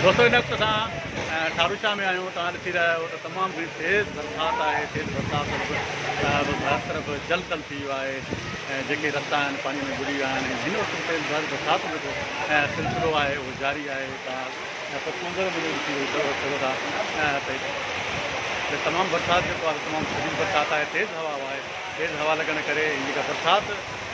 دوستو هن وقت اسان ٺاروشاه ۾ آهيون توهان ڏسي رهيا آهيو ته تمام گهڻي تيز برسات آهي تيز برسات سبب هر طرف جل تل ٿي ويو آهي ۽ جيڪي رستا آهن پاڻي ۾ ٻڏي ويا آهن هن وقت تيز برسات جو جيڪو سلسلو آهي اهو جاري آهي تمام برسات جيڪو آهي تمام شديد برسات آهي تيز هوا آهي تيز هوا لڳڻ ڪري جيڪا برسات